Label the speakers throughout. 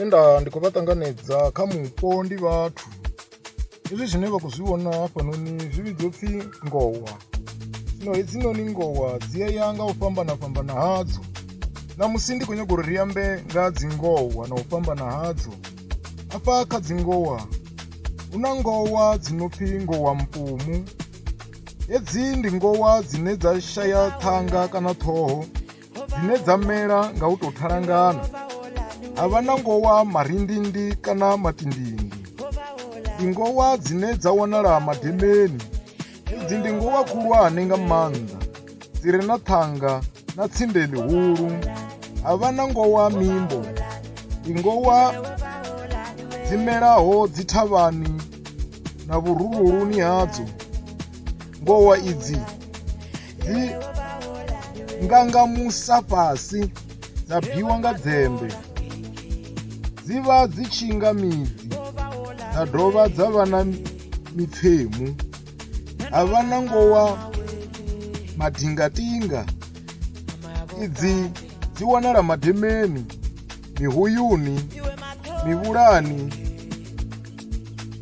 Speaker 1: e nda ndi khou vha ṱanganedza kha mupo ndi vhathu hezwi zwine vha khou zwi vhona hafhanoni zwi vhidzwa pfhi ngowa zwino hedzinoni ngowa dzi a ya nga u fhambana fhambana hadzo na musi ndi khou nyanga uri ri ambe nga dzi ngowa na u fhambana hadzo Afha kha dzingowa hu na ngowa dzi no pfi ngowa mpumu hedzi ndi ngowa dzine dza shaya ṱhanga kana ṱhoho dzine dza mela nga u tou thalangana ha vha na ngowa marindindi kana matindindi ndi ngowa dzine dza wanala mademeni hedzi ndi ngowa khulwane nga maanḓa dzi re na ṱhanga na tsinde ḽihulu ha vha na ngowa mimbo ingowa dzi melaho dzi thavhani na vhurululuni hadzo ngowa idzi dzi ngangamusa fhasi dza bwiwa nga dzembe dzi vha dzi tshi nga midzi dza dovha dza vha na mipfemu ha vha na ngowa madingatinga idzi dzi wanala mademeni mihuyuni mivhulani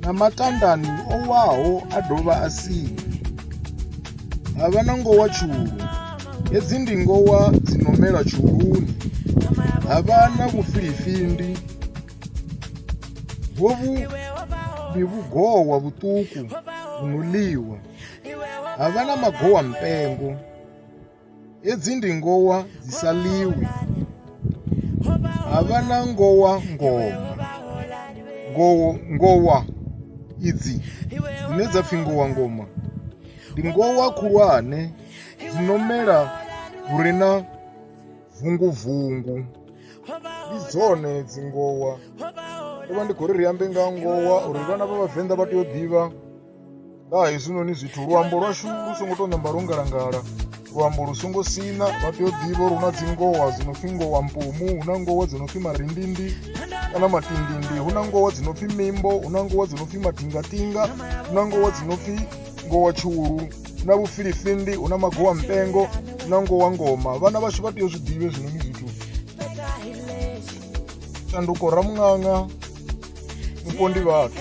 Speaker 1: na matandani o waho a dovha a sini ha vha na ngowa tshulu hedzi ndi ngowa dzi no mela tshuluni ha vha na vhufilifindi hovhu ndi vhugowa vhuṱuku vhuno ḽiwa ha vha na magowa mpengo hedzi ndi ngowa dzi sa ḽiwi ha vha na ngowa ngowa ngowo ngowa idzi dzine dza pfhi ngowa ngoma ndi ngowa khulwane dzi no mela hure na bvungubvungu ndi dzone dzingowa ndo vha ndi khou ri ri ambe nga ngowa uri vhana vha vhavenḓa vha tea u ḓivha nga ha hezwinoni zwithu luambo lwashu lu songo tou namba lwo ngalangala luambo lu songo sina vha tea u ḓivha uri hu na dzingowa dzi no pfhi ngowa mpumu hu na ngowa dzi no pfhi marindindi kana matindindi hu na ngowa dzi no pfhi mimbo hu na ngowa dzi no pfhi matingatinga hu na ngowa dzi no pfhi ngowa tshulu hu na vhufilifindi hu na magowa mpengo hu na ngowa ngoma vhana vhashu vha tea u zwi ḓivhe hezwinoni zwithu shanduko ramuṅaṅa mupo ndi vhathu